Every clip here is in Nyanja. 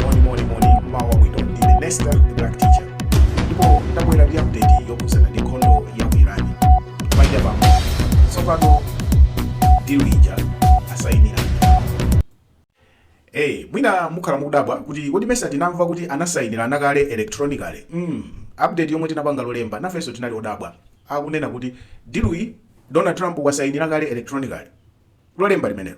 moni moni moni mawa bwino ndine nesta the black teacher ndipo ndabwera ndi update yokhudzana ndi nkhondo ya ku irani paja pamo tsopano deal ija asayinira Hey, mwina mukhala mukudabwa kuti kodi mesa tinamva kuti anasayinirana kale electronically mm, update yomwe tinapanga lolemba nafenso tinali odabwa akunena kuti deal iyi donald trump wasayinira kale electronically lolemba limenelo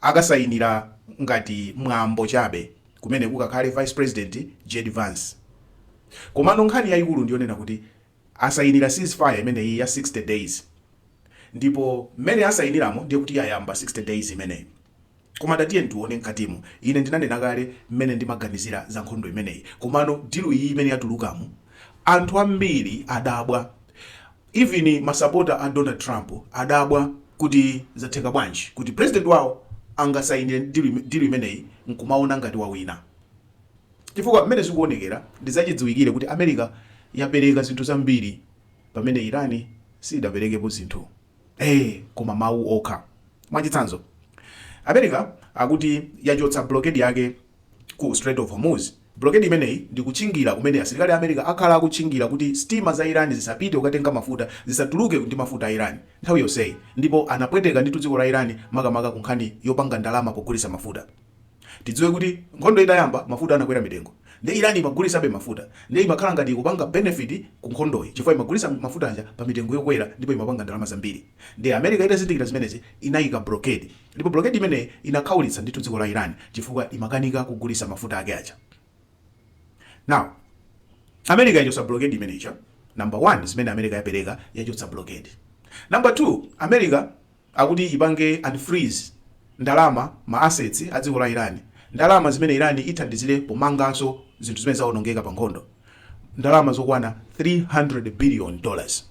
akasayinira ngati mwambo chabe kumene kukakhale vice president Jd Vance komano nkhani yayikulu ndiyonena kuti asayinira ceasefire imeneyi ya 60 days ndipo mmene asayiniramo ndiye kuti yayamba 60 days imeneyi koma tatiyeni tiwone mkatimo ine ndinanena kale mmene ndimaganizira za nkhondo imeneyi komano deal iyi imene yatulukamo anthu ambiri adabwa Even masapota a Donald Trump adabwa kuti zatheka bwanji kuti president wawo angasainire deal imeneyi nkumaona ngati wawina chifukwa mmene zikuonekera ndi zachidziwikire kuti America yapereka zinthu zambiri pamene Iran sidaperekepo zinthu ee koma mawu okha. Mwachitsanzo America akuti yachotsa blockade yake ku Strait of Hormuz. Bulokedi imeneyi ndi kutchingira kumene asilikali a America akhala akutchingira kuti sitima za Iran zisapite kukatenga mafuta, zisatuluke ndi mafuta a Iran nthawi yonseyi, ndipo anapweteka ndithu dziko la Iran makamaka kunkhani yopanga ndalama pogulitsa mafuta. Tidziwe kuti nkhondo itayamba, mafuta anakwera mitengo, nde Iran imagulisabe mafuta, nde imakhala ngati ikupanga benefit ku nkhondoyi chifukwa imagulitsa mafuta aja pa mitengo yokwera ndipo imapanga ndalama zambiri, nde America itazindikira zimenezi inaika bulokedi. Ndipo bulokedi imeneyi inakhaulitsa ndithu dziko la Iran chifukwa imakanika kugulisa mafuta ake aja. Now America yachotsa bulokedi imeneyi ija number one zimene America yapereka yachotsa bulokedi. Number two America akuti ipange unfreeze ndalama ma assets a dziko la Iran ndalama zimene Iran ithandizile pomanganso zinthu zimene zaonongeka pa nkhondo ndalama zokwana 300 billion dollars.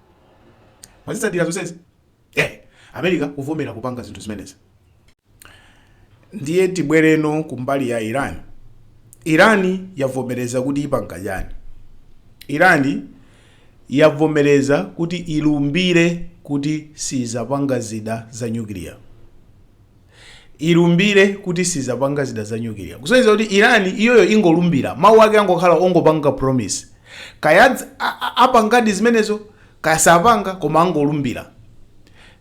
mwazitsatira zonsezi eh, america kuvomera kupanga zinthu zimenezi ndiye tibwereno kumbali ya iran iran yavomereza kuti ipanga chani iran yavomereza kuti ilumbire kuti sizapanga zida za nyukiliya ilumbire kuti sizapanga zida za nyukiliya kusonyeza kuti iran iyoyo ingolumbira mawu ake angokhala ongopanga promise kaya adz- a- a- apangadi zimenezo kaya sapanga koma angolumbira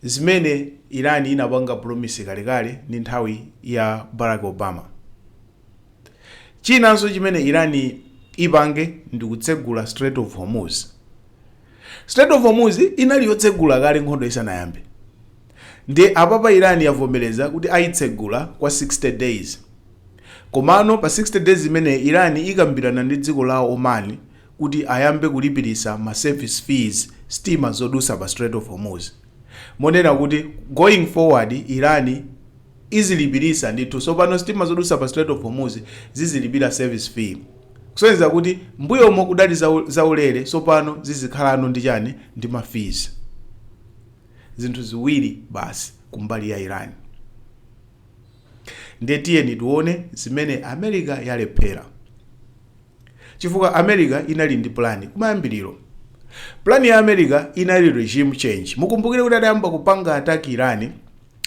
zimene iran inapanga promise kalekale ndi nthawi ya barack obama chinanso chimene iran ipange ndi kutsegula strait of hormuz strait of hormuz inali yotsegula kale nkhondo isanayambe Nde apapa Iran yavomereza kuti ayitsegula kwa 60 days. Komano pa 60 days imeneyi Iran ikambirana ndi dziko la Oman kuti ayambe kulipilisa ma service fees sitima zodusa pa Strait of Hormuz. Monena kuti going forward Iran izilipilisa ndithu sopano sitima zodusa pa Strait of Hormuz zizilipira service fee. Kusonyeza kuti mbuyomo kudali za ulere sopano zizikhalano ndi chani ndi ma fees. zinthu ziwiri basi kumbali ya Iran. Ndiye tiyeni tione zimene America yalephera, chifukwa America inali ndi plan kumayambiriro. Plan ya America inali regime change. Mukumbukire kuti adayamba kupanga attack Iran,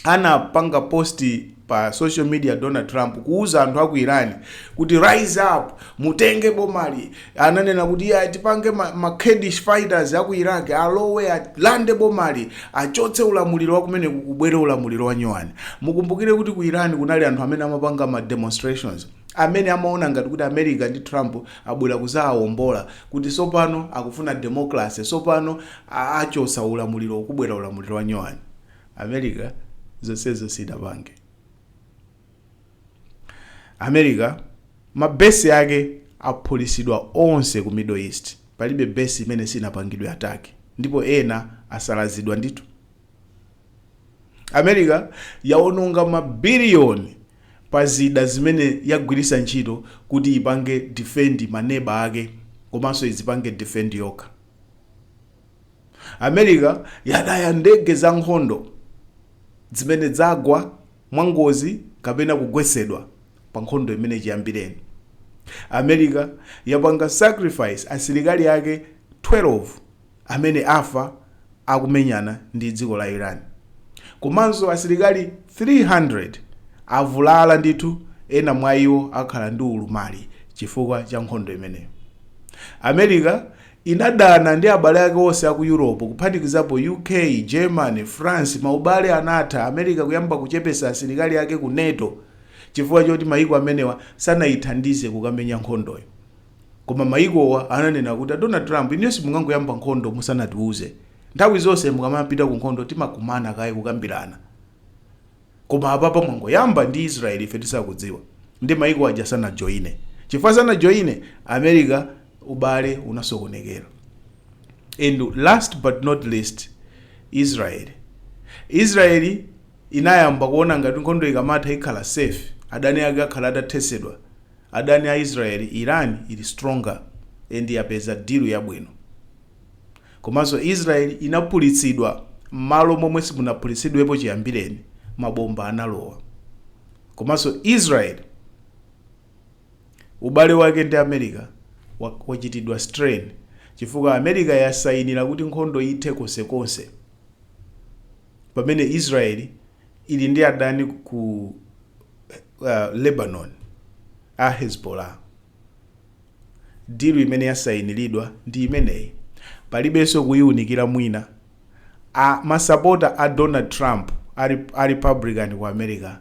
anapanga post pa social media Donald Trump kuuza anthu aku Iran kuti rise up, mutenge bomali, Ananena kuti iyayi atipange ma, ma Kurdish fighters a ku Iraq alowe alande bomali, achotse ulamuliro wa kumeneku kubwere ulamuliro wa nyuwani. Mukumbukire kuti ku Iran kunali anthu amene amapanga ma demonstrations amene amaona ngati kuti America ndi Trump abwera kudzawawombola kuti tsopano akufuna democracy, tsopano a, achotsa ulamulirowu kubwera ulamuliro wa nyuwani. America zonsezo sidapange. America ma base ake aphulisidwa onse ku middle east palibe base imene sinapangidwe attack ndipo ena asalazidwa ndithu. America yaononga ma billion pa zida zimene yagwirisa ntchito kuti ipange defend ma neba ake komanso idzipange defend yokha. America yataya ndege za nkhondo dzimene dzagwa mwangozi kapena kugwetsedwa pa nkhondo imeneyi chiyambireni America yapanga sacrifice asilikali ake 12 amene afa akumenyana ndi dziko la Iran komanso asilikali 300 avulala ndithu ena mwa iwo akhala ndi ulumali chifukwa cha nkhondo imeneyo America Inadana ndi abale ake onse a ku Europe, kuphatikizapo UK, Germany, France, maubale anatha, America kuyamba kuchepesa asilikali ake ku NATO chifukwa choti mayiko amenewa sanayithandize kukamenya nkhondoyo. Koma mayikowa ananena kuti a Donald Trump inuyo simungangoyamba nkhondo musanatiuze. Nthawi zonse mukamapita kunkhondo timakumana kaye kukambirana. Koma apapa mwangoyamba ndi Israel ife tisakudziwa nde maiko aja sanajoine chifukwa sanajoine America ubale unasokonekera and last but not least Israel Israel inayamba kuona ngati nkhondo ikamatha ikhala safe adani ake akhala atathesedwa adani a Israel Iran ili stronger and yapeza deal yabwino Komanso Israel inaphulitsidwa mmalo momwe simunaphulitsidwepo chiyambireni mabomba analowa. Komanso Israel ubale wake ndi America wachitidwa strain chifukwa America yasainila kuti nkhondo ithe konsekonse pamene Israel ili ndi adani ku Lebanon a Hezbollah. Deal imene yasainilidwa ndi imeneyi palibenso kuiunikira mwina. Masapota a Donald Trump a Republican ku America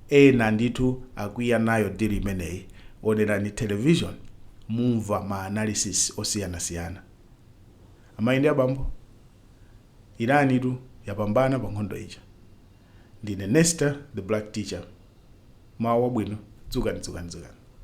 ena ndithu akwiya nayo deal imeneyi. Onerani television mumva ma analysis osiyanasiyana. Amayi ndi abambo, Iran tu yapambana pa nkhondo ija. Ndine Nester the Black Teacher. Mmawa wabwino, dzukani dzukani dzukani.